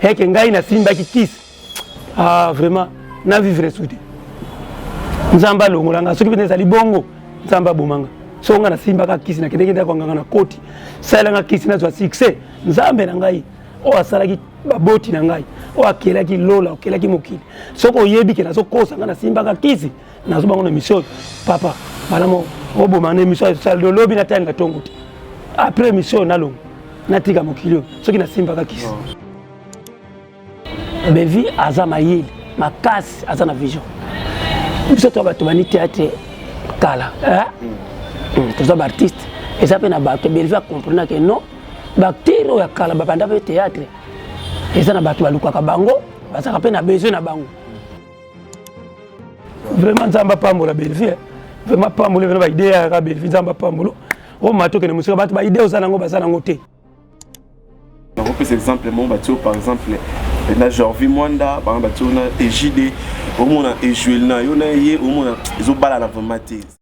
eke ngai nasimbaki kisi ah, vraiment na vivre su te nzambe alongola ngai soki mpenza ezali bongo nzambe aboma ngai soko ngai nasimbaka kisi nakendeki ndako nganga na koti salelanga kisi nazwa succès nzambe na ngai oyo asalaki baboti na ngai oyo akelaki lola okelaki mokili soki oyebi ke nazokosanga nasimbaka kisi nazo bango na emission oyo papa malamo oboma na emission oyo lobi natanga tongo te après emission oyo nalongo natika mokili oyo soki nasimbaka kisi bevi aza mayele makasi aza na vision biso to bato bani teatre kala hmm, toza baartiste eza mpe na bato belvi acomprena ke non baacteur oyo ya kala babanda mpe teatre eza na bato balukaka bango bazalaka mpe na besoin na bango vraiment nzambe apambola bellevie eh. vraiment apambola bino baide yaka bellevie nzambe apambola o oh, mato okende mosika bato baide oza nango baza nango te nakopesa exemple moko batio par exemple eh, na jorvi mwanda bana batio na egide omona ejuel na yo na ye omona ezobalana vraiment te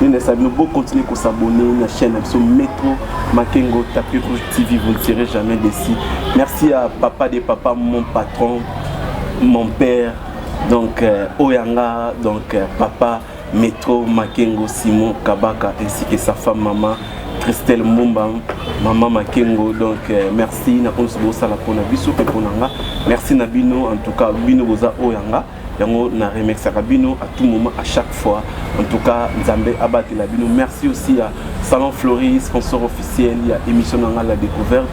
nene sabino bo continuer ko s'abonner na chaîne biso metro makengo tapis rouge tv vous ne serez jamais déçu merci à papa de papa mon patron mon père donc euh, oyanga donc euh, papa metro makengo simon kabaka ainsi que sa femme maman christelle mumba mama makengo donc euh, merci na oyo bosala mpona biso mpe mpona nga merci na bino en tout cas bino boza oyo yanga yango na remexaka bino à tout moment à chaque fois en tout cas nzambe abatela bino merci aussi à salon flori sponsor officiel ya émission na ngai la découverte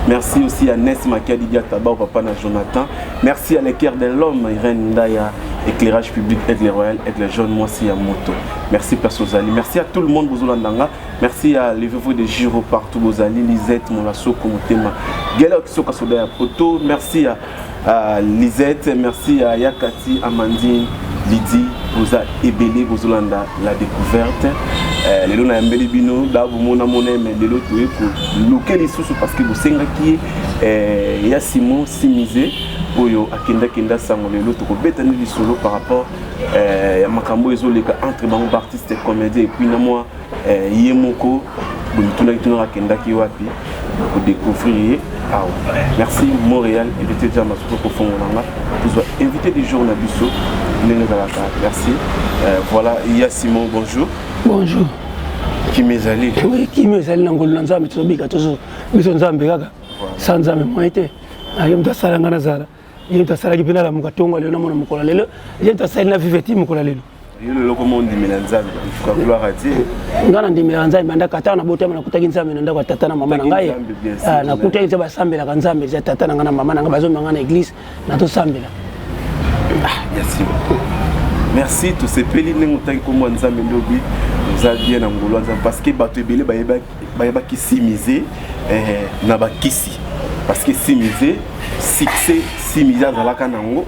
merci aussi à nes makiadi diataba au papa na jonathan merci à l'équerre de l'homme irène ndaya éclairage public aigle royal aigle jaune mwasi ya moto merci place ozali merci à tout le monde bozolanda nga merci à levez-vous de giro partout bozali lisette molasoko motema gela okisoka soda ya poto merci à Uh, Lisette, merci à Yakati, Amandine, Lydie, boza ebele bozolanda la découverte eh, lelo nayambeli bino babomona mona me lelo toye koluke lisusu parce que bosengaki ye eh, ya simon simise oyo akendakenda sango lelo tokobetani lisolo par rapport eh, ya makambo ezoleka entre bango baartiste comédien epuis na mwa eh, ye moko bomitunaki tuna akendaki wapi kodecouvrir ye awa merci montréal invité ja masusu kofongola nga tozwa invité du jour na biso ndenge ezalaka merci euh, voilà ya simon bonjour bonjour kimi ezali oui kimi ezali na ngolu na nzambe tozobika tozo biso nzambe kaka sa nzambe moye te aye moto asala nga nazala ye moto asalaki mpe nalamuka ntongo ya lelo namona mokolo ya lelo ye moto asali na vive ti mokolo ya lelo ngai nandimelaka nzambe bandaka ata na botama nakutaki nzambe na ndako ya tata na mama na ngai ah, nakutaki nzambe basambelaka nzambe eza tata na ngai na mama na ngai bazomema ngai na eglise natosambela ah, merci tosepeli ndenge otaki nkombo ya nzambe ndobi oza bien na ngolo ya nzambe parce que bato ebele bayebaki bayebaki simize eh, na bakisi parce que simize succès simize azalaka nango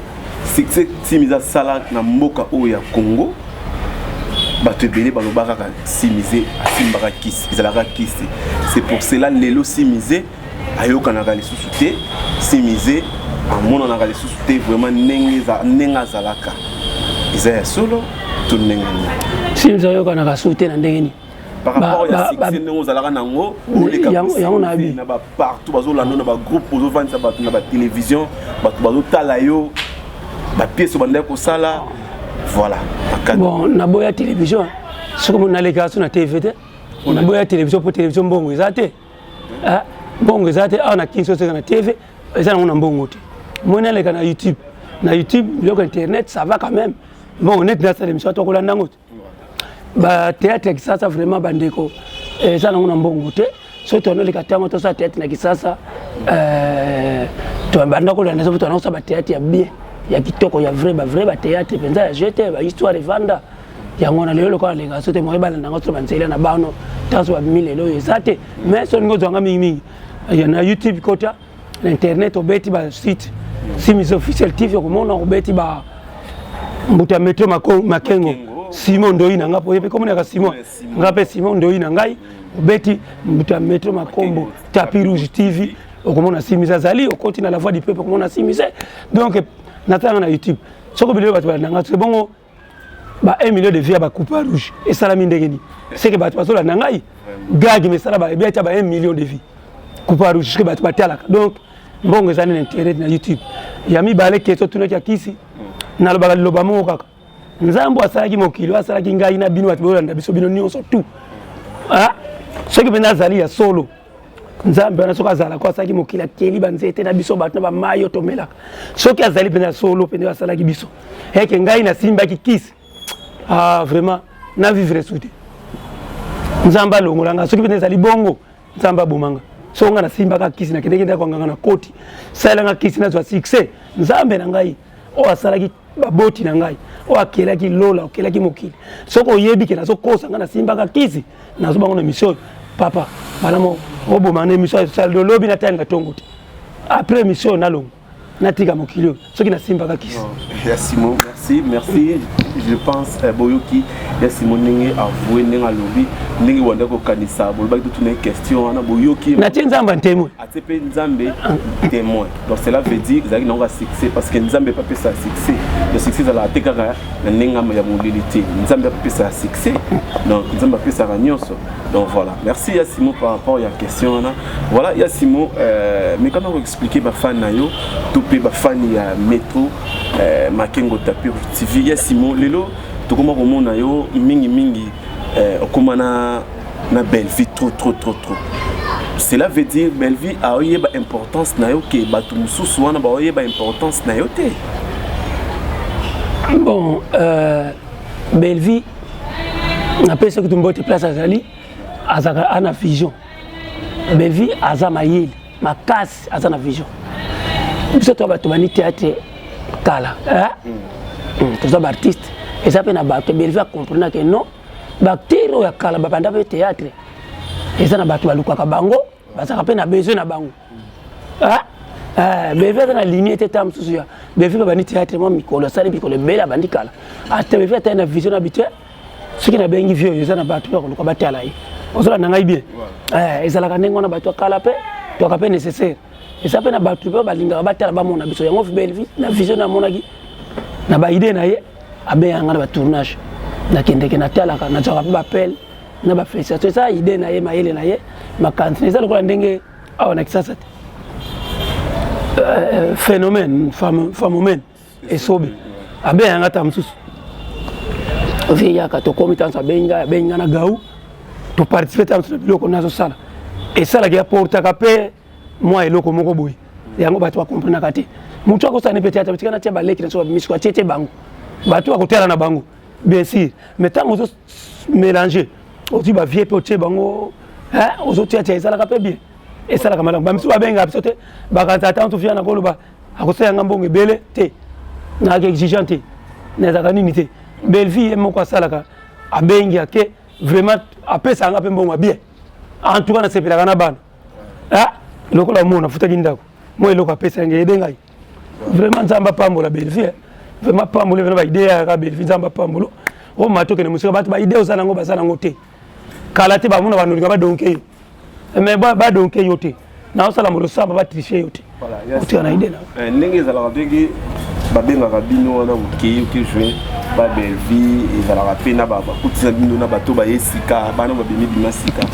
succès simize asala na mboka oyo ya congo bato ebele balobaka kaka simize asimbaka kisi ezalaka kisi c'est pour cela lelo simize ayokanaka lisusu te simize amonanaka lisusu te vraiment ndenge azalaka eza ya solo to ndenge nini simize ayokanaka susu te na ndenge nini par rapport ya succès ndenge ozalaka nango oleka na ba partout bazolanda na ba groupe ozovandisa bato na ba télévision bato bazotala yo ba pièce obandaki kosala voilà bon naboya télévision soki omoni nalekaka so na tv te naboya télévision mpo télévision mbongo eza te ah, mbongo eza te awa na kinso seka na tv eza nango na mbongo te moi naleka na youtube na youtube biloko internet ça va quand même mbongo neti nasala émission atokolanda yango te ba théâtre ya kisasa vraiment bandeko eh, eza nango na mbongo te soki tololeka ntango tosala théâtre na kisasa eh, tobanda kolanda soki tolanda kosala bathéâtre ya bien ya kitoko ya vrai bavrai bathéâtre mpenza ya jeu te bahistoire evanda yango na lelo lokola lenga so te moye balanda yango so banzela na bano ntango so bamimi lelo oyo eza te mais soki olingi ozwanga mingimingi eh, na youtube kota na internet obeti ba site simis officiel tv okomona obeti ba mbuta ya metro makengo simon ndoi na ngai poyepe komonaka simon ngai mpe simon ndoi na ngai obeti mbuta ya metro makombo tapi rouge tv okomona simis azali okoti na la voix du peuple okomona simis donc natanga na youtube soki bilelo bato balanda ngai ebongo ba 1 million de vie ya ba coupe rouge esalami ndenge nini seke bato bazolanda ngai gage mesala ba ebia tya ba 1 million de vie coupe rouge seke bato batalaka donc mbongo ezali na intérêt na youtube ya mibale keso tunaki ya kisi nalobaka liloba moko kaka nzambe asalaki mokili asalaki ngai na bino bato boyolanda biso bino nyonso tout ah, soki mpenza azali ya solo nzambe wana soki azalaka asalaki mokili akeli banzete na biso bato na bamai oyo tomelaka soki azali mpenza solo mpenza asalaki biso eke ngai nasimbaki kisi ah, vraiment na vivre su te nzambe alongola ngai soki mpenza ezali bongo nzambe aboma ngai soko ngai nasimbaka kisi nakendeki ndako anganga na koti salelanga kisi nazwa succès nzambe na ngai oyo asalaki baboti na ngai oyo akelaki lola okelaki mokili soki oyebi ke nazokosa ngai nasimbaka kisi nazoba ngo na emission oyo papa bana mo oboma na emission oyo lobi natalinga ntongo te après emission oyo nalongo natika mokili oyo soki nasimbaka kisi ya simon merci merci je pense eh, boyoki ya simo ndenge avoue ndenge alobi ndenge wanda kokanisa bolobaki totuna question wana boyoki natie nzambe ntemwe c'est pe nzambe témoin donc cela veut dire ezalaki nango ya succès parce que nzambe epe apesa succès ya succès ezalaka te kaka na ndenge ya molili te nzambe apesa ya succès donc nzambe apesaka nyonso donc voilà merci ya simo par rapport ya question wana voilà ya simo euh, mekana koexplike bafani na yo to mpe bafani ya metro euh, makengo tapir tv ya simo lelo tokoma komona yo mingimingi euh, okoma na na Bellevue trop trop trop trop cela veut dire Bellevue aoyeba importance na yo ke bato mosusu wana baoyeba importance na yo te bon euh, Bellevue napesi kutu mbote place azali azalaka ana vision Bellevue aza mayele makasi aza na vision biso to bato bani théâtre kala eh? mm. mm. toza baartiste eza mpe na bato Bellevue akomprenake non baacteur oyo ya kala babanda mpe théâtre eza na bato balukaka bango bazalaka mpe na besoin na bango ah, ah, beve aza na linie te ta mosusu ya beve babandi théâtre mwa mikolo asali mikolo ebele abandi kala ata beve atali na vision na bitue soki nabengi vie oyo eza na bato ya koluka batala ye ozolanda ngai bien eh, ezalaka ndenge wana bato ya kala mpe toka mpe nécessaire eza mpe na bato mpe balingaka batala bamona biso yango na vision namonaki na baide na ye abengaka nga na ba tournage nakendeke natalaka nazwaka mpe bapele na bafélicitation eza idée na ye mayele na ye makanisi na eza lokola ndenge awa na kisasa te euh, phénomène phénomène esobe abengaka nga ta mosusu vie yaka tokomi tanso abengi ngai abengi ngai na gau toparticipe ta mosusu na biloko nazosala esalaki aportaka mpe mwa eloko moko boye yango bato bakomprenaka te motu akosala ne peut-être tika natia baleki na so bamisiko atie te bango bato bakotala na bango bien sûr mais ntango ozo mélange ozwi bavie mpe otie bango ozotiatia ezalaka mpe bien esalaka malamu bamisusu babengaka biso te bakanisa ata ntufia na koloba akosala nga mbongo ebele te nayaka exigent te nazalaka nini te bellevie ye moko asalaka abengi ake vraiment apesaka nga mpe mbongo ya bien en tout cas nasepelaka na bana ah lokola mona futaki ndako moi eloko apesa ngai ede ngai vraiment nzambe apambola bellevue eh. vraiment apamboli vraimen baide yaka bellevue nzambe apambolo o oh, mato okende mosika bato baide oza nango baza nango te kala te bamona banolinga badonke yo eh, mais badonke yo te naosala molosamba batriche yo te eh, ndenge ezalaka ndenge babengaka bino wana okei oke joue ba bellevie ezalaka mpe na bakutisa bino na bato baye sika bana babimi bima sika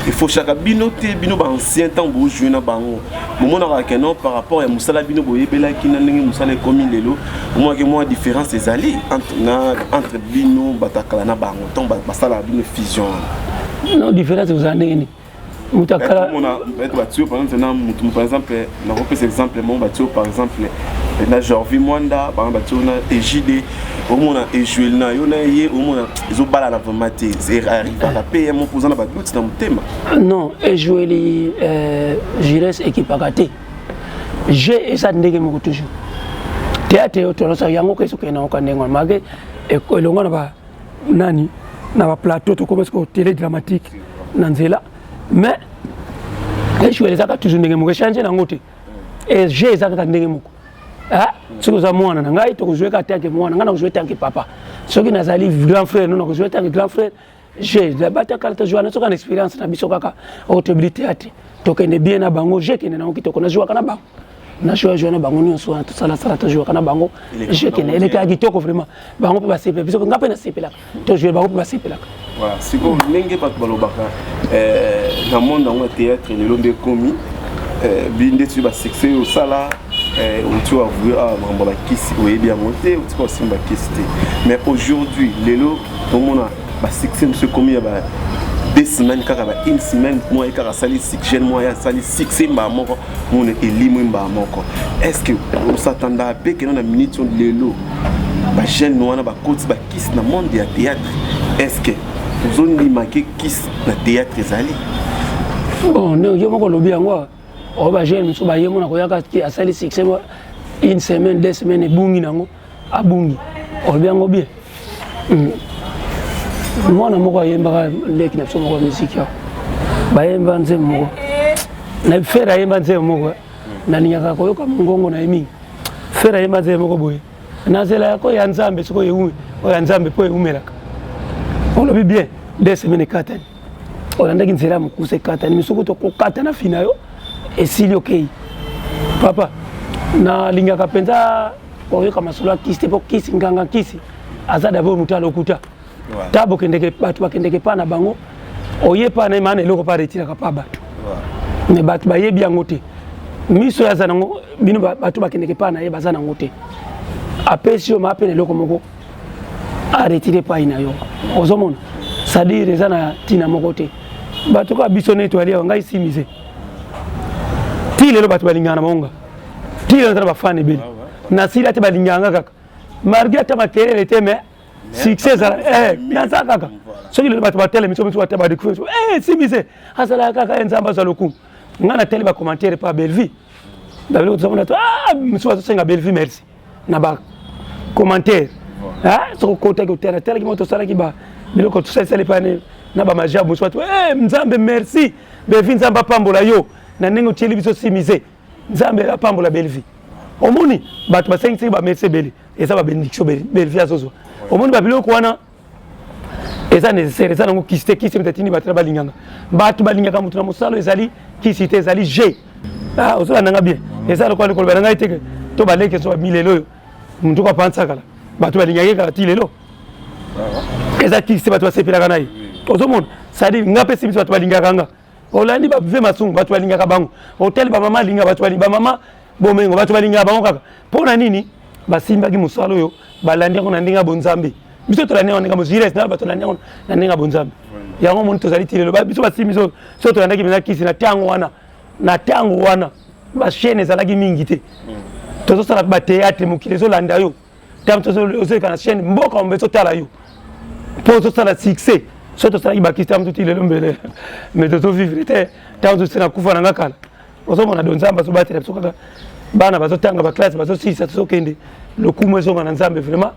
efoshaka bino te bino baancien ntango bojoue na bango bomonaka ke non par rapport ya mosala bino boyebelaki na ndenge mosala ekomi lelo omonake mwa différence ezali entre bino bato ya kala na bango ntango basalaka bino fusion wana non différence ozala ndenge nini utakala mona peut-être batio par exemple na mutu par exemple na kopesa exemple mon batio par exemple na Jorvi Mwanda par exemple batio na Ejide omona ejuel na yo na ye omona ezobala na vraiment te arriva na PM opoza na badoute na motema non ejueli euh, Gilles ekipaka te jeu eza ndenge moko toujours théâtre yo tolosaka yango kesoke na oka ndenge wana mage elongo na ba nani na ba plateau tokoma sikoyo tele dramatique na nzela mais echouer ezaka toujours ndenge moko echange nango te jeu eza kaka ndenge moko soki oza mwana na ngai tokozwe kaka tanke mwana ngai nakozwe tanke papa soki nazali grand frère no nakozwe tanke grand frère je batakala tozwana soki na expérience na biso kaka oyo toyebi te ate tokende bien na bango je kende nango kitoko nazwaka na bango na show ya joana bango nyonso wana tosala sala tojouraka na bango jeu kende elekaka kitoko vraiment bango mpe basepela biso nga mpe nasepelaka tojoue bango mpe basepelaka sikoyo ndenge bato balobaka eh, na monde yango ya théâtre lelo nde ekomi eh, bindeti basuccès oyo osala eh, oti avouye awa ah, makambo bakisi oyebi yango te otika osimba kisi te mais aujourd'hui lelo tomona basuccès mosu ekomi ya deux semaines kaka ba une semaine moi kaka asali jeune moi asali succès mbaa moko mona elimwe mbaa moko estce osatanda mpe kena na minute lelo bajeune wana bakoti bakisi na monde ya théâtre estce ozondimake kisi na théâtre ezali oh, yo moko olobi yango oyo oh, bajeune mosusu baye mona koyaka asali succès une semaine deux semaine ebungi nango abungi olobi yango bien hmm. mwana moko ayembaka leki na biso moko ya miziki yao bayemba nzembo moko na fere ayemba nzembo moko eh. nalingaka koyoka mongongo na ye mingi fere ayemba nzembo moko boye nazela yako ya nzambe soki oyo ya nzambe mpo eumelaka olobi bien de semaine ekatani olandaki nzela ya mokusa ekatani misoko tokokata na fina yo esili okei papa nalingaka mpenza oyoka masolo ya kisi te mpo kisi nganga kisi aza dabord moto ya lokuta ta bokendeke bato bakendeke mpa na bango oye mpa na ye maana eloko mpe aretiraka mpa bato me bato bayebi yango te miso oyo aza nango bino bato bakendeke mpa na ye baza nango te apesi yo maa mpe na eloko moko aretire epai na yo ozomona sadire eza na ntina moko te bato kaka biso neti aliawa ngai simise ti lelo bato balingaka na bango nga tila naza na bafane ebele nasila te balingaka nga kaka malgré ata makelele te mais succès ezala eh, naza kaka soki lelo bato batelemi soki bata badécouvrir eh, simise azalaka kaka eh, nzambe azwa lokumu ngai nateli bacommentaire pa bellevie babeloko tozamona to ah, mosusu bazosenga bellevie merci na bacommentaire ah, soki okotaki otela telaki moto osalaki ba biloko tosalisali pane na bamajabu mosusu bato nzambe merci bellevie nzambe apambola yo na ndenge otyeli biso simise nzambe apambola bellevie omoni bato basengisaki bamerci ebele eza babenediction bellevie azozwa omoni babiloko wana eza nécessaire eza nango kisi te kisi etatini bato na balinganga bato balingaka moto na mosala ezali kisi te ezali je ah, ozolanda nga bien eza lokola likoloba na ngai te to baleki ezo milelo oyo motu kapansakala bato balingaka ye kaka ti lelo eza kisi te bato basepelaka na ye ozomona sadire nga mpe simisi bato balingaka nga olandi ba vie masungu bato balingaka bango otali bamama alinga bato balinga bamama bomengo bato balingaka bango kaka mpo na nini basimbaki mosala oyo balandi yango na ndenge ya bonzambe biso tolandi yango ndenge mozires na bato olandi yango na ndenge ya bonzambe yango omoni tozali ti lelo biso basimbi biso so tolandaki mpenza kisi na ntango wana na ntango wana bachaine ezalaki mingi te tozosala bateatre mokili ezolanda yo ntango tozoleka na chaîne mboka ombe totala yo mpo tozosala succès so tosalaki bakisi ntango toti lelo mbele mais tozovivre te ntango tosi na kufa na nga kala ozomona do nzambe azobatela biso kaka bana bazotanga baklasse bazosilisa tozokende lokumu ezonga na nzambe vraiment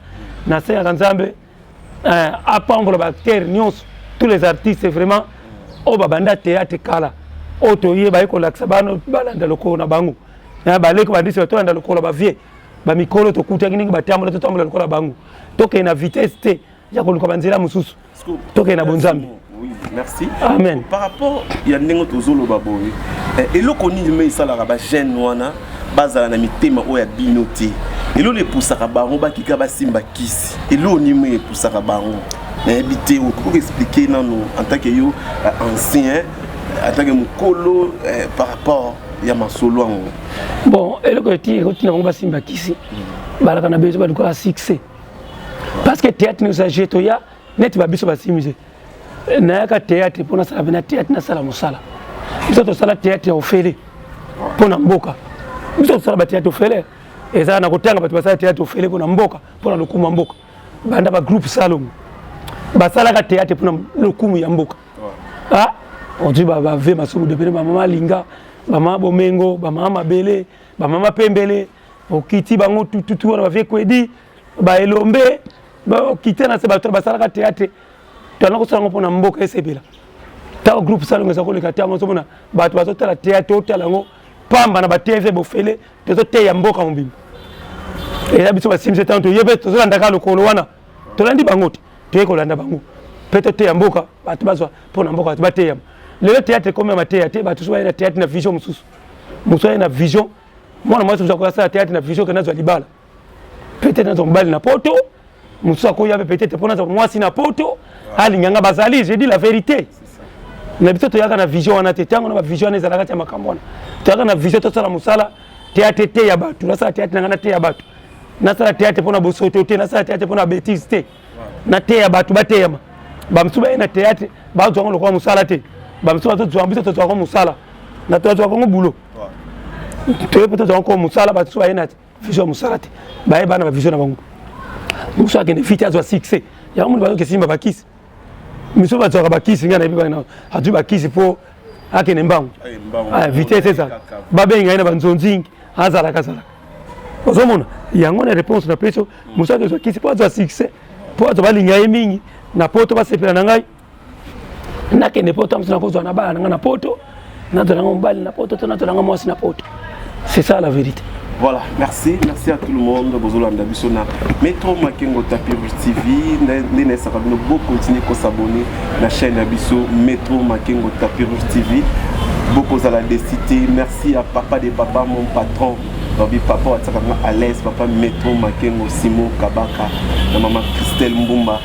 nasengaka nzambe eh, apambola ba acteurs nyonso tous les artistes vraiment oyo babanda théâtre kala oyo toye baye kolakisa bana balanda lokolo na bango eh, baleki bandisi batolanda lokolo bavie bamikolo tokutaki ndenge batambola totambola lokola bango tokende na vitesse te ya koluka banzela mosusu tokende na bonzambe Oui, merci. Amen. Par rapport ya ndenge tozoloba boye eh, eloko nini me esalaka bajeune wana bazala na mitema oyo ya bino te elolo epusaka bango bakika basimba kisi eloko nini me epusaka bango nayebi te okoki expliquer nano en tant que yo eh, ancien en tant que mokolo eh, par rapport ya masolo yango bon eloko eti ekotina bango basimba kisi balaka na bezo balukaka succès parce que théâtre nous a jeté ya neti ba biso basimise nayaka théâtre mpo nasala mpena théâtre nasala mosala biso tosala théâtre ya ofele mpo na mboka biso tosala bathéâtre ofele eza na kotanga bato basala théâtre ofele mpo na mboka mpo na lokumu ya mboka banda bagroupe salomo basalaka théâtre mpo na lokumu ya mboka ah, ozwi bave masumu depene bamama alinga bamama bomengo bamama mabele bamama pembele okiti bango tututu wana bavie kwedi baelombe bakite na se bato basalaka teatre tozala kosala yango mpona mboka esepela ntango groupe salongo eza koleka te yango ozomona bato bazotala teatre otala yango pamba na batv bofele tozoteya mboka mobimba eza biso basimisi ntango toye mpe tozolandaka lokolo wana tolandi bango te toye kolanda bango mpe toteya mboka bato bazwa mpo na mboka bato bateyama lelo teatre ekomi ya mateya te bato so baye na teatre na vision mosusu mosusu aye na vision mwana mwasi mosusu akoya asala teatre na vision kena azwa libala peut-être nazwa mobali na poto mosusu akoya mpe peut-être mpo nazwa mwasi na poto alinga nga bazali je dis la vérité na biso toyaka na vision wana te ntango na bavision wana ezalaka ti ya makambo wana toyaka na vision tosala mosala teatre te ya bato nasala teatre na ngai na te ya bato nasala teatre mpo na bosoto te nasala teatre mpo na betise te na te ya bato bateyama bamosusu baye na teatre bazwa yango lokola mosala te bamosusu bazozwa biso tozwaka mosala na tozwaka yango bulo toye mpe tozwaka yango mosala bamosusu baye na te vision ya mosala te baye bana bavision na bango mosu akende fiti azwa succès yango moni bazoki esimba bakisi miso bazwaka bakisi ngai nayebi bana azwi bakisi mpo akende mbangu ah, vitesse ezala babengi ngai na banzonzingi azalaka azalaka ozomona yango na réponse na peso mosu akende zwa kisi mpo azwa succès mpo bato balinga ye mingi na poto basepela na ngai nakende poto amsina kozwa na bana na ngai na poto nazwa nanga mobali na poto to nazwa nanga mwasi na poto c'est ça la vérité Voilà, merci. Merci à tout le monde. Bozolo Andabisona. Metro Makengo Tapirus TV. Nene Sakabino, beau continuer à s'abonner à la chaîne Abisso Metro Makengo Tapirus TV. Beaucoup à la décité. Merci à papa des papas, mon patron. Babi papa, à l'aise, papa Metro Makengo Simon Kabaka, la maman Christelle Mbumba.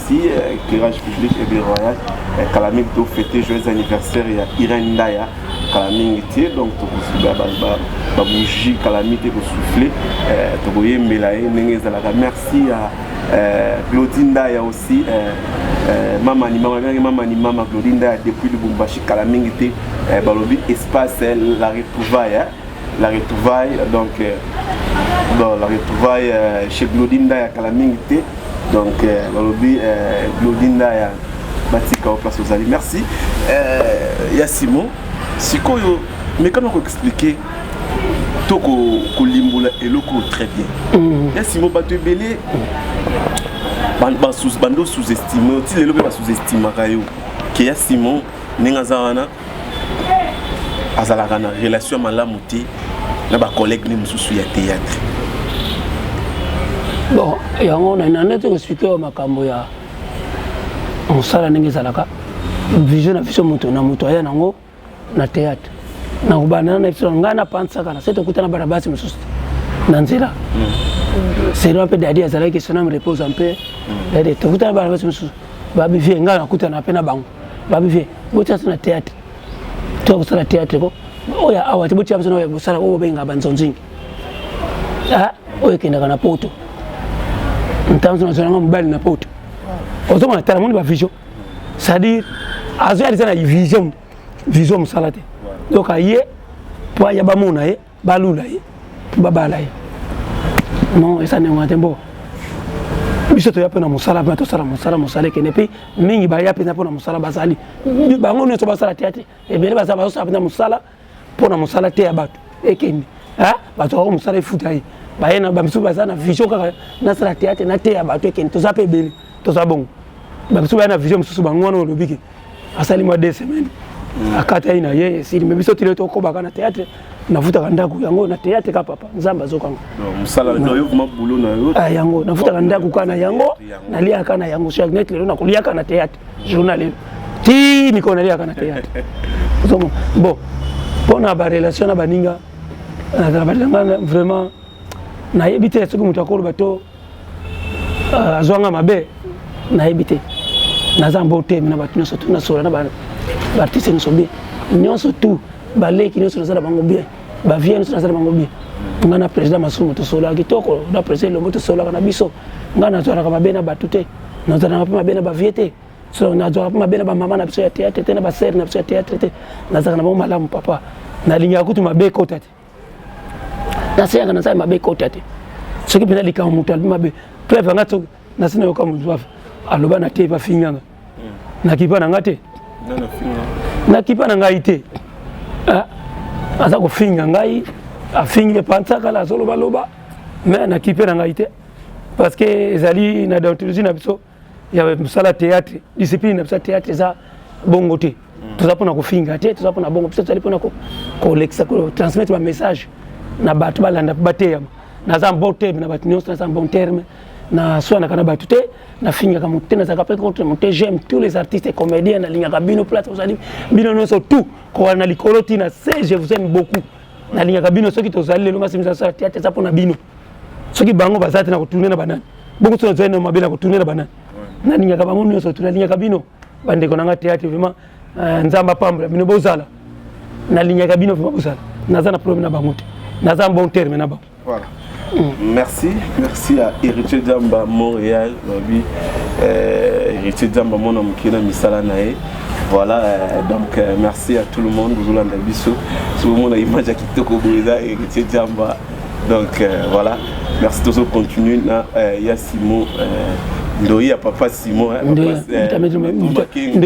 Merci, euh, éclairage public et bien royal. Euh, kala mingi to fêter joyeux anniversaire ya Irène Ndaya. Kala mingi te donc tokosuba ba ba ba bougie kala mingi te ko souffler. Euh, tokoyembela ye ndenge ezalaka. Merci à euh, Claudie Ndaya aussi. Euh, euh, mama ni mama bien mama ni mama Claudie Ndaya depuis Lubumbashi kala mingi te. Euh, balobi espace euh, la retrouvaille. Hein? la retrouvaille donc euh, bon la retrouvaille euh, chez Glody Ndaya kala mingi te donc euh, balobi euh, Glody Ndaya batika o place ozali merci euh, ya Simon sikoyo mekana ko expliquer to kolimbola ko eloko très bien mm. ya Simon bato ebele bando sous-estime oti lelo mpe ba sous-estimaka yo ke ya Simon ndenge aza wana azalaka na relation malamu te na bacollègue ne mosusu ya théâtre bon yango nande te koexplike yo makambo ya mosala ndenge ezalaka vision na vision moto na moto aya nango na théâtre nakobandana na biso ngai napansaka na se tokutana bana basi mosusu na nzela mm. selon mpe dadi azalaki soname repose mpe mm. dadi tokutana bana basi mosusu babivie ngai nakutana mpe na bango babi vie botia biso na théâtre toya kosala théâtre ko oyo awa te botia biso na oyo kosala oyo bobengaka banzonzingi ah, oyo ekendaka na poto ntango so nazalanga mobali na poto ozomona tala moni bavision c'est-à-dire azoyalisa na vision vision mosala te donc aye mpo ayaba mona ye balula ye mpo babala ye non eza ndenge wana te mpo biso toya mpe na mosala mpe tosala mosala mosala ekende mpe mingi baya mpenza mpo na mosala bazali bango nyonso basala te te ebele bazala bazosala mpenza mosala mpo na mosala te ya bato ekende bato yango mosala efuta ye baye na bamisusu baza na vision kaka nasala teatre nateya bato ekende toza mpe ebele toza bongo bamisusu baya na vision mosusu bango wana olobi ke asali mwa deux semaines mm. akataki na ye esili me biso tile tokobaka na théâtre nafutaka ndako yango na théâtre ka papa nzambe azokanga ah, yango nafutaka ndako ka na yango naliaka na yango chaque net lelo nakoliaka na théâtre journal lelo ti mikolo naliaka na théâtre bon mpona barelation na baninga na baninga vraiment nayebi te soki moto akoloba to euh, azwa nga mabe nayebi te naza mbo temi na bato nyonso tu nasola na baartiste nyonso bien nyonso tu baleki nyonso naza na bango bien bavie nyonso naza na bango bien ngai na président masumu tosolaka kitoko na président elombo tosolaka na biso ngai nazwalaka mabe na bato te nazalaka mpe mabe na bavie te so nazwaka mpe mabe na bamama na biso ya théâtre te na basere na biso ya théâtre te nazalaka na bango malamu papa nalingaka kutu mabe ekota te naseyaka na nsala mabe ekota te soki mpenza likambo moto alobi mabe preuve anga soki nasi nayoka moto aloba na te bafinganga nakipa na nga te nakipa na ngai te ah, aza kofinga ngai afingi mpe pansakala azolobaloba me nakipe na ngai te parce que ezali na deontologie na biso ya mosala théâtre discipline na biso ya théâtre eza bongo te mm. toza mpona kofinga te toza mpona bongo biso tozali mpona kolekisa kotransmettre bamessage na bato balanda mpe bateyama naza bon terme na bato nyonso naza bon terme naswanaka na bato te nafingaka moto te nazalaka mpe contre moto te j'aime tous les artistes et comédiens nalingaka bino place ozali bino nyonso tout kowana na likolo ti na se je vous aime beaucoup nalingaka bino soki tozali lelo masemi zasala te eza mpo na bino soki bango baza te na kotourne na banani bongo soki nazali na mabe na kotourne na banani nalingaka bango nyonso tu nalingaka bino bandeko na nga teyate vraiment euh, nzambe apambola bino bozala nalingaka bino vraiment bozala naza na problème na bango te naza bon terme na bango Voilà. Mm. Merci, merci à Héritier Djamba Montréal, Babi. Euh, Héritier Djamba mon homme qui est dans Misala Nae. Voilà, euh, donc euh, merci à tout le monde, Zoulan Dabisso. Tout le monde a image à Kitoko Boisa, Héritier Djamba. Donc euh, voilà, merci tous continuer na euh, ya Simon euh, ndoyi ya papa simon eh, ndoyi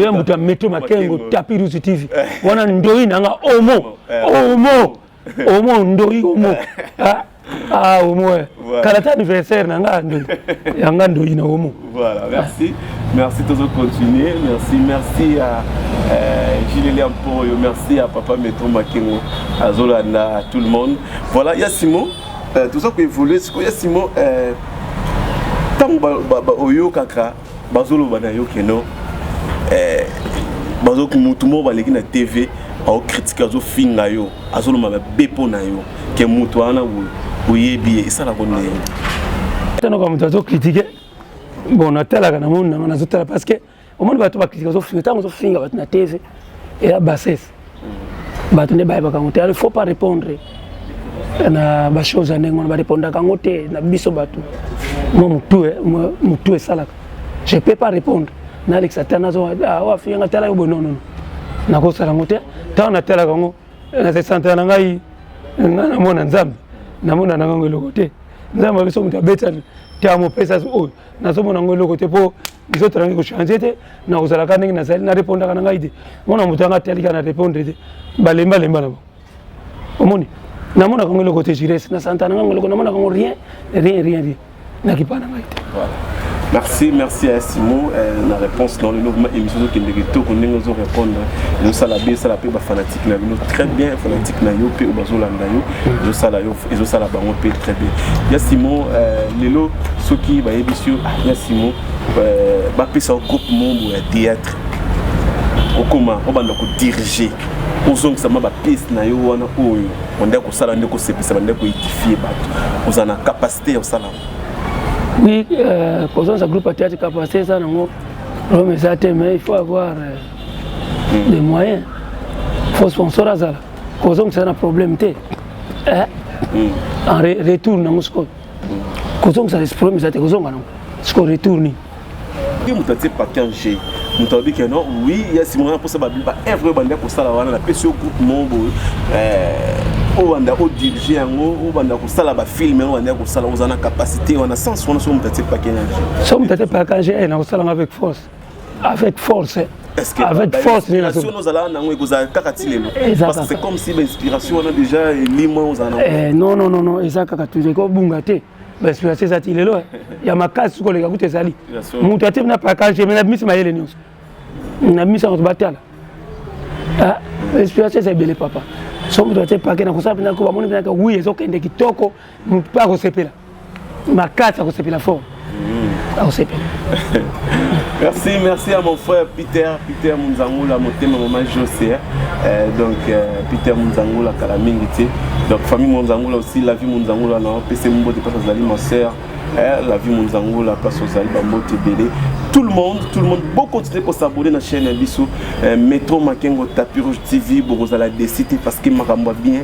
ya moto ya metro makengo tapi rusu tv wana ndoyi na nga omo omo omo ndori omo ah, ah omo eh. voilà. kala ta anniversaire na nga ndoi ya nga ndoi na omo voilà merci merci tozo continuer merci merci à euh, Gilelia Mpoyo merci à papa Metro Makengo azolanda tout le monde voilà ya Simon euh, toza ko évoluer sikoyo ya Simon euh, ntango oyokaka bazoloba na yo keno eh, bazoki motu moko baleki na tv aokritike azofinga yo azoloma babe mpo na yo ke motu wana oyebi ye esalaka nini tanoka moto azokritike bon natalaka na moni nanga nazotala parce que omoni bato bakritike azofinga ntango ozofinga bato na tv eya bassesse bato nde bayebaka yango te il faut pas répondre na bachose ya ndenge wana barépondaka yango te na biso bato mwa motu eh, motu esalaka je peux pas répondre nalekisa te nazowafiyanga ah, tala yo boye nonono nakosala yango te ntango natalaka yango nasesantana na ngai nga namona nzambe namona na ngango eloko te nzambe abiso moto abetani te amopesa oyo nazomona yango eloko te mpo nzoto nangi kochange te na kozalaka ndenge nazali na repondaka na ngai te mona moto yanga atalika na repondre te balembalemba na bango omoni namonaka yango eloko te jires na santa na ngango eloko namonaka yango rien rien rien rien nakipa na ngai te merci merci à simo eh, na réponse dans le logement émission ozokende kitoko ndenge ozo répondre ezosala bien esala mpe bafanatike na bino très bien fanatike na yo mpe oyo bazolanda yo ezosala yo ezosala bango mpe très bien ya simon euh, lelo soki bayebisi yo ah, ya simon euh, bapesa yo groupe mombo ya théâtre okoma obanda kodirige ozongisa mwa bapiece na yo wana oyo banda kosala nde kosepisa banda koedifie bato ozala na capacité ya kosala oui euh, kozongisa groupe ya théâtre capacité eza nango rome eza te mais il faut avoir hmm. des moyens faut sponsor azala kozongisa na problème te eh, hmm. en retour nango sikoyo kozongisa problème eza te kozonga nango sikoyo retour nini soki moto atie package moto alobi ke non oui ya nsima wana mposa baevre oyo banda kosala wana napesi yo groupe moko boye eh, obanda odirige yango obanda kosala bafilme yango banda kosala oza na capacité wana sens wana soki moto atie package so moto atie package eh, nakosalanga avec force avec force Est-ce que avec force ni la solo zala na ngo ekozala kaka ti lelo parce que c'est comme si ba inspiration wana déjà elimo on zala eh non non non non eza kaka toujours ko bunga te ba inspiration eza ti lelo ya makasi ko leka kutu ezali mutu ati na package mais na bimisi mayele nyonso na bimisi yango batala ah inspiration eza ebele papa soki moto atie pake na kosala mpenza ko bamoni mpenza wi ezokende kitoko motu mpe akosepela makasi akosepela fort mm. akosepela merci merci à mon frère peter peter munzangula motema mama josé hein. euh, donc euh, peter munzangula kala mingi te donc famille munzangula aussi la vie munzangula na opesi mbote mpasi azali ma sœur eh, la vie munzangula mpasi ozali bambote ebele tout le monde tout le monde bokontinue kosabone na chaîne ya biso euh, metro makengo tapi rouge tv bokozala desite parce que makambo ya bien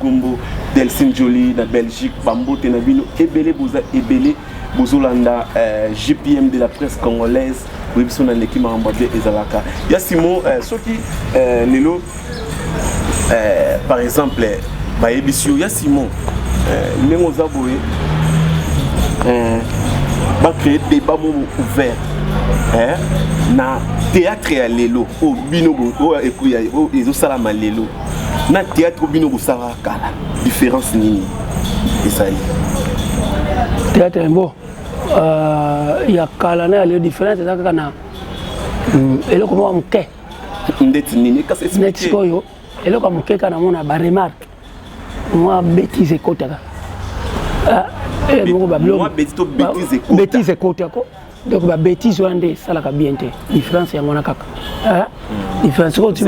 Gombo Delcine Jolie na Belgique bambote na bino ebele boza ebele bozolanda euh, GPM de la presse congolaise oyebi so naleki makambo ya bien ezalaka ya Simon euh, soki euh, lelo euh, par exemple bayebisi yo ya Simon euh, ndenge oza boye euh, bacree débat mo ouvert eh, na théâtre ya lelo oyo bino oyo ezosalama lelo na théâtre bino bosalaka kala différence nini ezali théâtre yango euh, ya kala na ya lelo différence eza kaka na mm, eloko moko moke ndeti nini kasi neti sikoyo eloko ya moke kaka namona baremarke mwa bétise ekotaka ah, eh, moko babetise ekotako donc ba bêtise wana nde esalaka bien te différence yango wana kaka différence oyo tu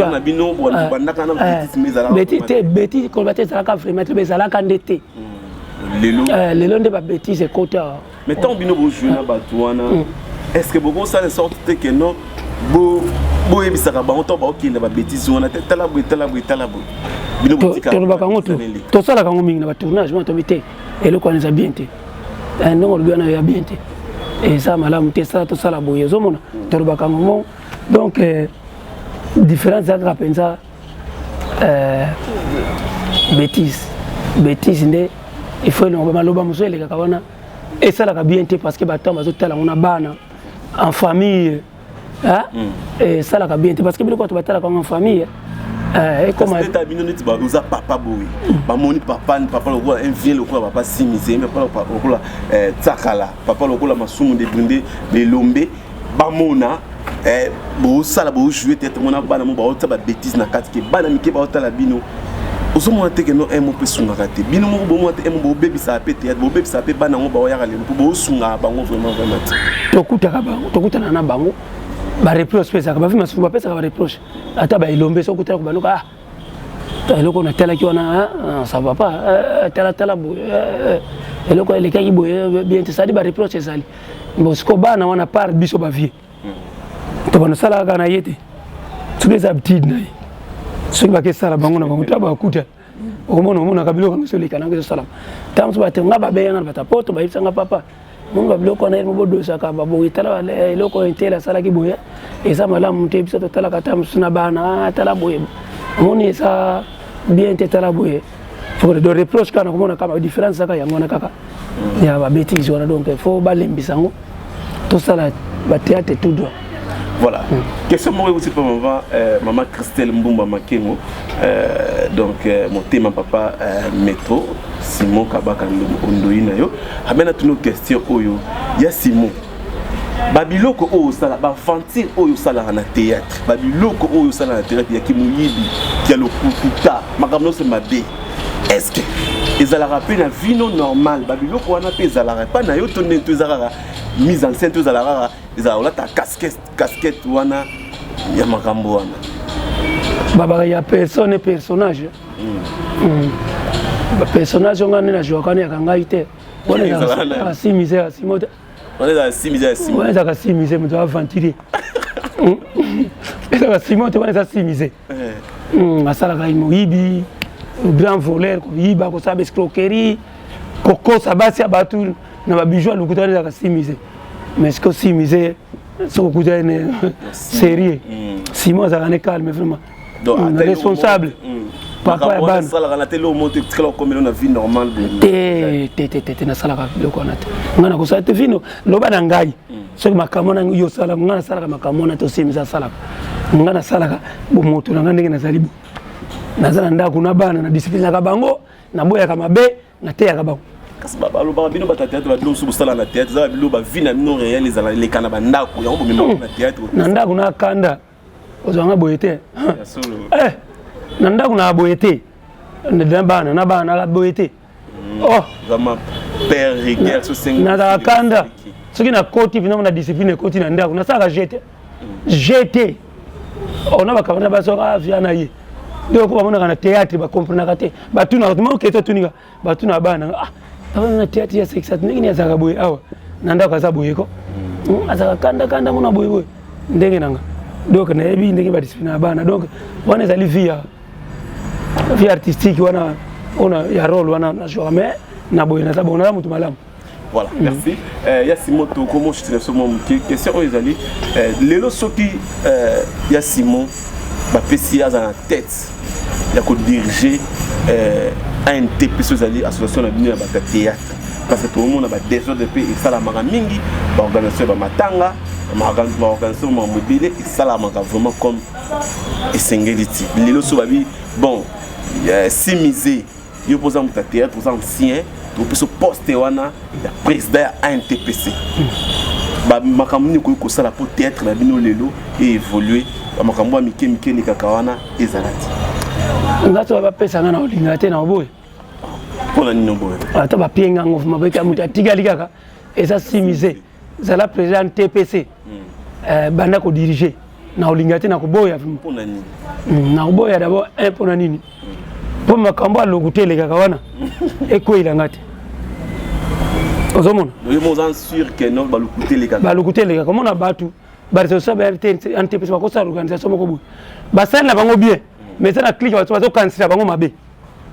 te bêtise koloba te ezalaka vraiment te ezalaka nde te lelo nde ba bêtise ekota mais ntango bino bojue na bato wana est ce que bokosala sorte te ke non boyebisaka bango ntango baokende ba bêtise wana te tala boye tala boye tala boye bino tolobaka yango tosalaka yango mingi na batournage wana tobi te eloko wana eza bien te eh, ndenge olobi wana ya bien te eza malamu te sala tosala boye ozomona tolobaka yango mo donc eh, différence eza kaka mpenza eh, bétise bétise nde il faut elongo bamaloba mosusu elekaka wana esalaka bien te parce que bato bazotala yango na bana en famille ah hmm. eh, esalaka bien te parce que biloko bato batalaka yango en famille eh, ekomata bino neti oza papa boye bamoni papa papa lokola un vieux lokola papa simise papa lokola eh, tsakala papa lokola masumu de brinde belombe bamona bosala bojoue tete mona bana mo baotya babétise na kati ke bana mike baotala bino ozomona te keno emo mpe esungaka te bino moko bomona te emo bobebisaka mpe teyate bobebisaka mpe bana yango baoyaka lelo mpo bosungaka bango vraiment vraiment te tokutaka bango tokutana na bango bareproche mpe ezalaka bavi masusu bapesaka bareproche ata baelombe soki okutana kobanoka ah eloko natalaki wana ah, ah, ça va pas eh, eh, talatala boye eh, eloko elekaki boye bien te sadi bareproche ezali bosiko bana wana par biso bavie to bana sala kana yete soki eza habitude na ye soki bake sala bango na bango to bakuta omona omonaka biloko yango ezoleka nango ezosalama ntango mosusu bato nga babeya nga na bata poto bayebisa nga papa moni babiloko wana elimo bodosaka baboye tala eloko oyo ntele asalaki boye eza malamu te biso totalaka ta mosusu na bana tala boye omoni eza bien te tala boye faut de reproche kaka nakomona kaka différence kaka yango wana kaka ya ba bêtise wana donc il faut balembisa yango tosala ba théâtre tout droit voilà mm. question moko euti mpo mama euh, mama christelle mbumba makengo euh, donc euh, motema papa euh, metro simon kabaka ondoi na yo amena tino question oyo ya simon babiloko oyo osala baventure oyo osalaka na théâtre babiloko oyo osala na théâtre ya kimoyibi ya lokuta makambo nyonso mabe estce ezalaka mpe na vino normal babiloko wana mpe ezalaka epai na yo to ndeni to eza kaka mise en scène to ezala kaka ezala olata casquette casquette wana ya makambo wana babaka ya personne personnage mm. Mm. bapersonnage onga nde na joakani yaka ngai te wana asi misère asimo te wana ezalaka simi eza ya simi wana ezalaka simi ze moto aventurier ezalaka sima te wana eza simi ze eh. hmm, asalaka moyibi grand voleur koyiba kosala baescroquerie kokosa basi ya bato na babijou ya lokuta wana ezalaka simi ze mais siko simi ze soki okuta ene sérieux sima azalaka ne calme vraiment responsable papa ya bana salaka na tele omo te tikala komelo na vie normale te te te te te na salaka biloko wana te nga na kosala te vino loba na ngai soki makambo na yo sala nga na salaka makambo na to simisa salaka nga na salaka bo moto na nga ndenge nazali bo naza na ndako na bana na disiplinaka bango naboyaka mabe nateyaka bango kasi balobaka bino bato ya théâtre babilo mosusu bosala na théâtre eza babilo bavi na bino réel ezala eleka na bandako yango bomema na théâtre na ndako na kanda ozwa nga boye te eh, na ndako na boye te na bana na bana na boye te mm. oh. nazalaka kanda soki nakoti mpena na discipline ekoti na ndako nasalaka jete jete mm. ona oh, bakabana basoka avia ah, na ye nde oko bamonaka na théâtre bacomprenaka te batunaka tumaokete otunika bato na bana ah papa na tiati ya sexe ndenge ni azaka boye awa na ndako aza boye ko hmm. Hmm, azaka kanda kanda mona boye boye ndenge nanga donc nayebi ndenge badiscipline ya bana donc wana ezali vie ya vie artistique wana ona ya role wana na jour mais na boye naza bongo naza moto malamu Voilà, mm. merci. Euh, ya Simon Toko, mon chute, ce moment, question oyo ezali, euh, lelo soki euh, ya Simon, ba pesi aza na tête ya ko diriger euh, ANT peso ezali association na bino ya bata théâtre parce que tokomona badésordre mpe esalamaka mingi baorganisation ya bamatanga baorganisation ma mobile esalamaka vraiment comme esengeli ti lelo so babi bon euh, simise yo mpo oza moto ya théâtre oza ancien tokopeso poste wana ya président ya antpc makambo nini okoki kosala mpo théâtre na bino lelo eévolue bamakambo ya mike mike elekaka wana ezala te nga soki bapesa nga na olingaka te na oboye mpo na nini oboye ata bapienga ngo mabeka moto atikali kaka eza simise zala président tpc euh, banda ko diriger na olinga te na koboya hmm, na koboya d'abord un mpo na nini mpo makambo ya lokuta elekaka wana ekweyela nga te ozomona balukuta elekaka omona bato baresolution ba rtntps bakosala organisation moko boye basali na bango bien mais eza na clike bazokanisela bango mabe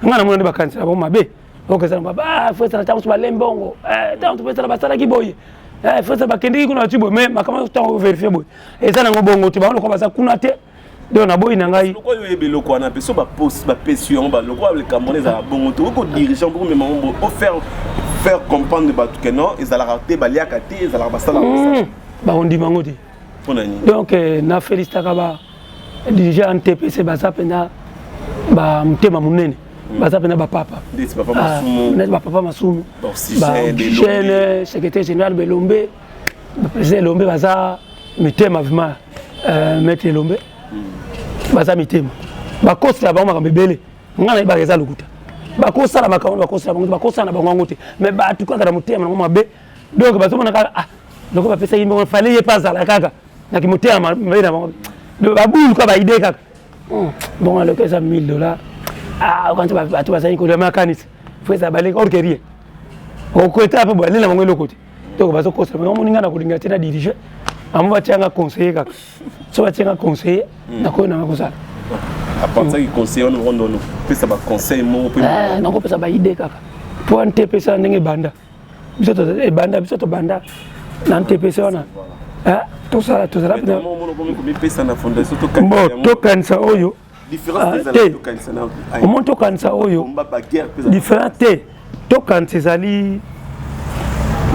ngai namona nde bakanisela bango mabe ok eza na ba fesa na ntango so balembi bongo eh, ntango topesala basalaki boye eh, fesa bakendeki kuna bati boye mais makambo nyonso ntango overifie boye eza nango bongo te bango lokola baza kuna te donc naboyi na ngai lokola oyebi eloko wana mpe so bapesi yango balokola likambo wana ezala bongo te okoki kodirige mpo komema yango ofaire faire comprendre bato ke non ezalaka te baliaka te ezalaka basala hmm, bakondima yango te donc euh, na felicitaka ba dirigeant ntpc baza mpenza ba motema monene hmm. baza mpenza bapapa neti bapapa masumu bajeune secrétaire général belombe baprésident elombe baza mitema vrima euh, maître elombe hmm. baza mitema bakosela bango makambo ebele ngai nayebaka eza lokuta bakosala makambo bakosala bango bakosala na bango yango te mais bato kaka na motema nango mabe donc bazomona kaka ah loko bapesaki mbongo fale ye mpe azala kaka na kimotema mabe na bango babulu kaka baide kaka hmm, mbongo ya loko eza 1000 dollar ah, okanisa bato bazali kolia makanisi fo eza baleki orke rien okoeta mpe boalela bango eloko te donc bazokosa bango moninga na kolinga te na dirige bango batianga conseiller kaka so batianga conseiller hmm. nakoyo nanga kosala apensaki conseiller wana okondo pesa baconseil moko mpe nakopesa baide kaka mpo ante epesana ndenge ebanda biso ebanda eh, biso tobanda na ntps wana eh, tosala tozala mpo tokanisa oyo ah, te omoni tokanisa oyo différent te tokanisa ezali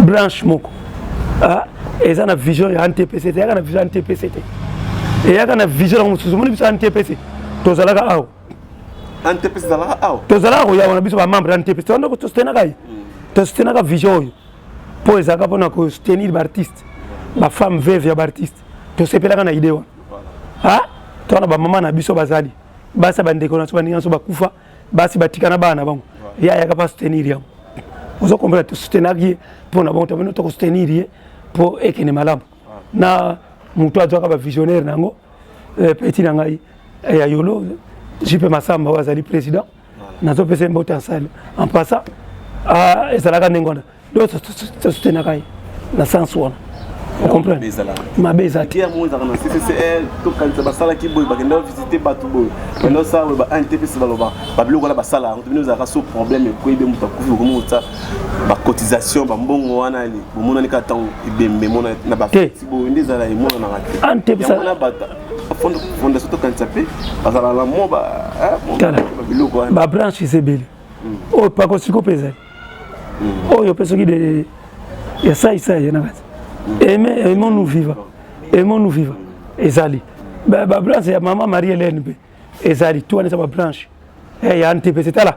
branche moko ah, eza na vision ya ntps te eyaka na vision ya ntps te eyaka na vision yango mosusu omoni biso ya ntps tozalaka awa tozalaka koya wana biso bamembre ya ntepesi wana tosutenaka ye hmm. tosutenaka vision oyo mpo ezalaka mpona kosutenir baartiste bafemme veve ya baartiste tosepelaka na idee wana ah, toa na bamama na biso bazali basi bandeko na biso baninga biso bakufa basi batika na bana na bango ye ayaka mpe asutenir yango ozo comprendre tosutenaki ye mpo na bango tamino tokosoutenir ye mpo ekende malamu na moto azwaka bavisionnaire na yango eh, peti na ngai eh, ya yolo jipe masamba oyo azali président nazopesa ye mbote ensale en passant ah, ezalaka ndenge wana donc tosutenaka ye na sens wana okomprendre mabe eza te tokanisa basalaki boye bakenda visite bato boye pendant sala boye ba ntps baloba babiloko wana basala yango to bino ezalaka so problème ekoyebi moto akufi okomi kotsa ba cotisation ba mbongo wana bomonani kaka ntango ebembe mona na bafeti boye nde ezala emonanaka te ah, wana bata fondation tokanisa mpe bazala na mo biloko wana babranches ebele hmm. oyo pakosiko mpe ezali hmm. oyo mpe soki de ya saisai na kati hmm. aimons nous viva aimons nous viva ezali babranche ya mama marie hélène mpe ezali to wana eza babranche eh, ya ntepese tala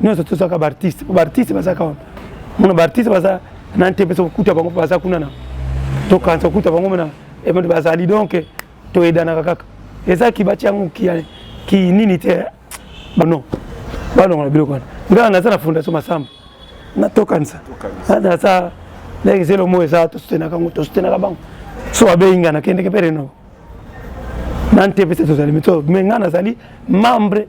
nyonso tozalaka baartiste po baartiste bazalaka wana mona baartiste baza na nte mpe sokuta bango mpe baza kuna na tokanisa okuta bango mpe na emode bazali donc toyedanaka kaka eza kibati yango kinini te bono balongola biloko wana ngai naza na fondation masamba natokanisa naza ndenge zelo mo eza tosutenaka yango tosutenaka bango so abeyi ngai nakendeke mpe renoko na nte mpe se tozali mito me ngai nazali membre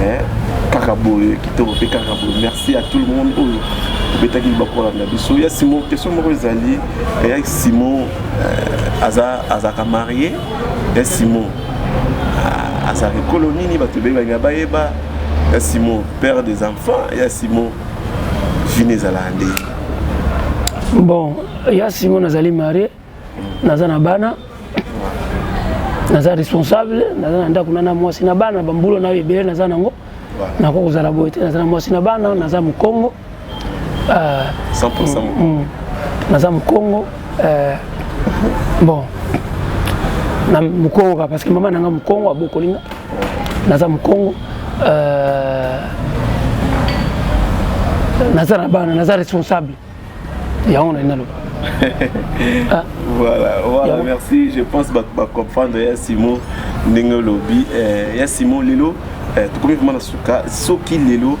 eh, kaka boye kitoko mpe kaka boye merci à tout le monde oyo obetaki libaku kolanda biso ya simon question moko ezali eh, ya simon eh, aza azalaka marie ya simon ah, azalaka ekolo nini bato ebele balinga bayeba ya simon père des enfants ya simon vine ezalaka nde bon ya simon azali marie naza na bana naza responsable naza na ndako na na mwasi na bana bambulo nayo ebele naza nango nako kozala boye te naza na mwasi na bana naza mokongo euh, mm, mm. naza mokongo euh, bon na mokongo kaka parce que mama nanga mokongo abokoli nga naza mokongo euh, naza na bana naza responsable yango nalingi naloba ah. voilà voilà merci je pense bato bacomprendre ya simon ndenge olobi eh, ya simon lelo eh, tokomi vraimen na suka soki lelo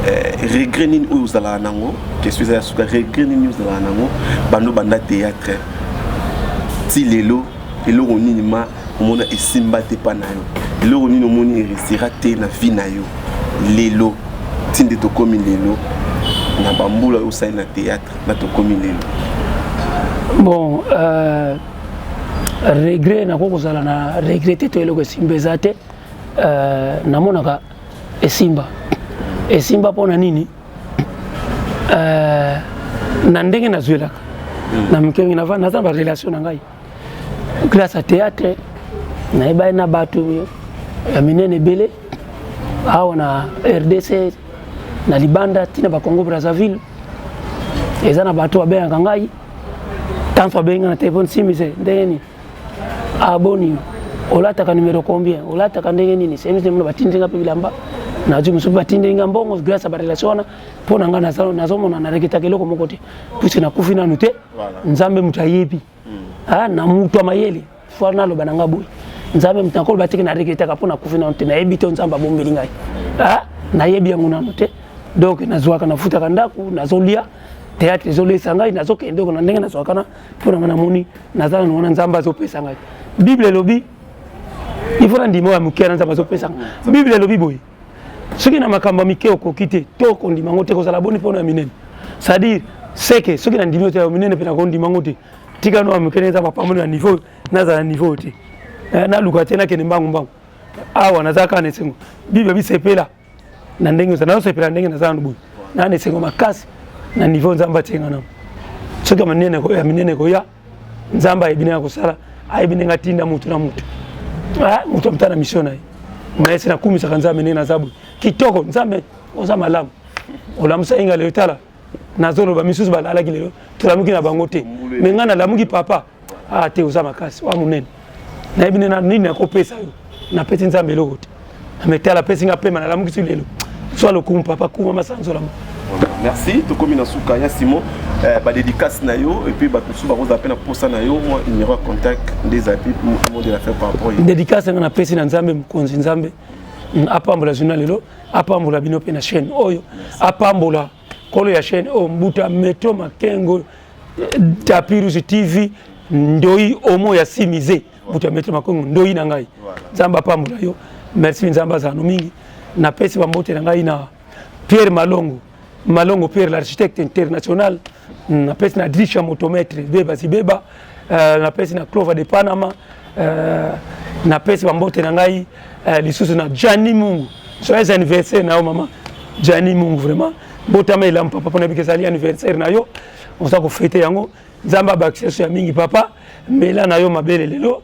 eh, regret nini oyo ozalaka nango question eza ya suka regret nini ozalaka nango bando banda théâtre ti lelo eloko nini ma omona esimba te pa na yo eloko nini omoni eresira te na vie na yo lelo ti nde tokomi lelo na bambula oyo osali na théâtre na tokomi lelo bon euh, regret nakoki kozala na regrete to eloko esimba eza te euh, namonaka esimba esimba mpo na nini euh, na ndenge nazwelaka hmm. na mike mingi naza na barelation na ngai grâce à théâtre nayebani na bato ya minene ebele awa na rdc na libanda ntina bakongo brazzaville eza na bato babengaka ngai tanso abengi na telefone simise ndenge nini aboni ah, olataka numero combien olataka ndenge nini semise mona batindi nga mpe bilamba nazwi mosusu batindeli nga mbongo grâce ya barelation wana mpo na ngai nazomona nareketaka eloko moko te puiske nakufi nanu te nzambe moto ayebi ah, na moto ya mayele fo naloba na ngai boye nzambe moto nakoloba teke na regretaka mpo nakufi nano te nayebi te nzambe abombeli ngai ah, nayebi yango nano te donc nazwaka nafutaka ndako nazolia théâtre ezolesa ngai nazokende oko na ndenge nazwaka na mpo na ngai namoni naza nano wana nzambe azopesa ngai bible elobi il faut nandima oyo ya moke wana nzambe azopesa ngai bible elobi boye soki na makambo ya mike okoki te to kondima yango te kozala boni mpona ya minene c'est-à-dire seke soki nandimi te ya minene mpe nakondima yango te tika no ya moke neza bapamboli ya niveau nazala na niveau te eh, naluka te nakende mbangu mbangu awa naza kaka na esengo bible bisepela na ndenge oza nazosepela ndenge naza nanu boye naa na esengo makasi na niveau nzambe atie nga nango soki ya minene ekoya nzambe ayebi ndenge akosala ayebi ndenge atinda motu na motu ah, motu amita na misio na ye mayese nakumisaka nzambe ndenge naza boye kitoko nzambe oza malamu olamusa inga lelo tala nazoloba misusu balalaki lelo tolamuki na bango te me ngai nalamuki papa ah te oza makasi oa monene nayebi nde na nini nakopesa yo napesi nzambe eloko te nametala apesi nga pema nalamukisi lelo zwa lokumu papa kuma masanzolama merci tokomi na suka ya simon eh, badédicace na yo epuis bato mosusu bakozala mpe na mposa na yo mwa numéro ya contact nde ezali mpe monde de la fin par rapport dédicace yanga napesi na nzambe mokonzi nzambe mm, apambola journal lelo apambola bino mpe na chaîne oyo apambola kolo ya chaîne oyo oh, mbuta metro makengo tapirus tv ndoyi omo ya simise mbuta ya metro makengo ndoyi na ngai nzambe apambola yo merci nzambe azala no mingi napesi bambote na ngai na pierre malongo malongo pierre l'architecte international napesi na drisha motomètre beba zibeba euh, na pesi na Clova de Panama euh, na pesi ba mbote na ngai euh, lisusu na Gianni Mungu joyeux anniversaire na yo mama Gianni Mungu vraiment botama elamu papa pona bikesali anniversaire na yo oza ko fete yango nzambe abakisa so ya mingi papa mela na yo mabele lelo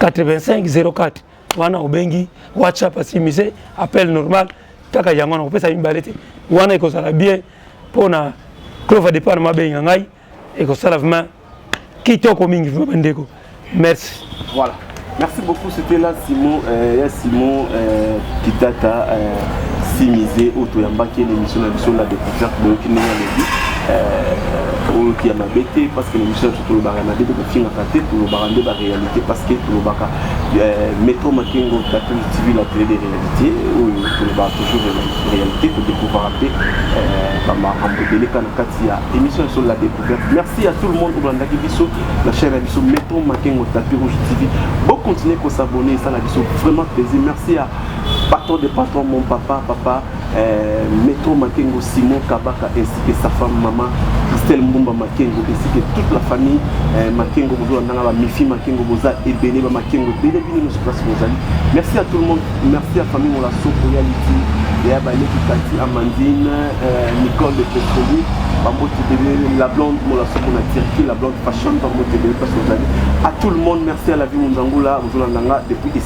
8504 wana obengi whatsapp asimise appel normal kaka yango wana kopesa mibale te wana ekozala bien mpo na clova depart mabenga ngai ekosala vraimen kitoko mingi vraimen bandeko merci voilà merci beaucoup c'était là simon euh, ya simon euh, kitata euh, simise oyo toyambaki ye na émission na biso la découverte boyoki ndenge alobi euh, oyoki ya mabe te parce que na émission na biso tolobaka mabe fingaka te tolobaka nde baréalité parce que tolobaka euh, metro makengo tatu tv la télé de réalité oyo tolobaka toujours réalité todécouvraka mpe euh, bamakambo ebeleka na kati ya émission ya solo la découverte merci à tout le monde olandaki biso na chaîne ya biso metro makengo tatu rouge tv bocontinue kosabonne esala biso vraiment plaisir merci à patron de patron mon papa papa Euh, Maître Makengo, Simon Kabaka ainsi que sa femme maman Christelle Mbumba Makengo ainsi que toute la famille euh, Makengo Bozo Nanga ba Mifi Makengo Boza et Bene ba Makengo Bene Bene nous place Bozali. Merci à tout le monde. Merci à famille Mola Soko Yaliti et à Balé Kikati Amandine euh, Nicole de Petroli Bambo Tibele la blonde Mola Soko na Turquie la blonde fashion Bambo Tibele place Bozali. À tout le monde merci à la vie Munzangula Bozo Nanga depuis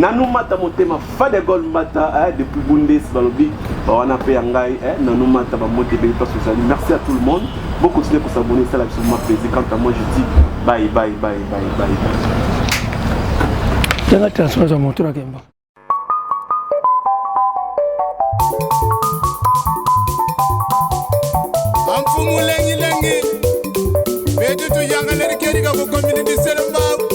Nanu mata motema fadegol mata eh, depuis bundes balobi bawana mpe ya ngai eh, nanu mata bambote ebeli mpasi ozali merci à tout le monde bo continuer kosabone esala biso ma plaisir quant à moi je dis bye bye bye bye bye yanga transfert ya moto na kemba amfumu lengilengi betutu yangalerikeriga kokomini biselembaku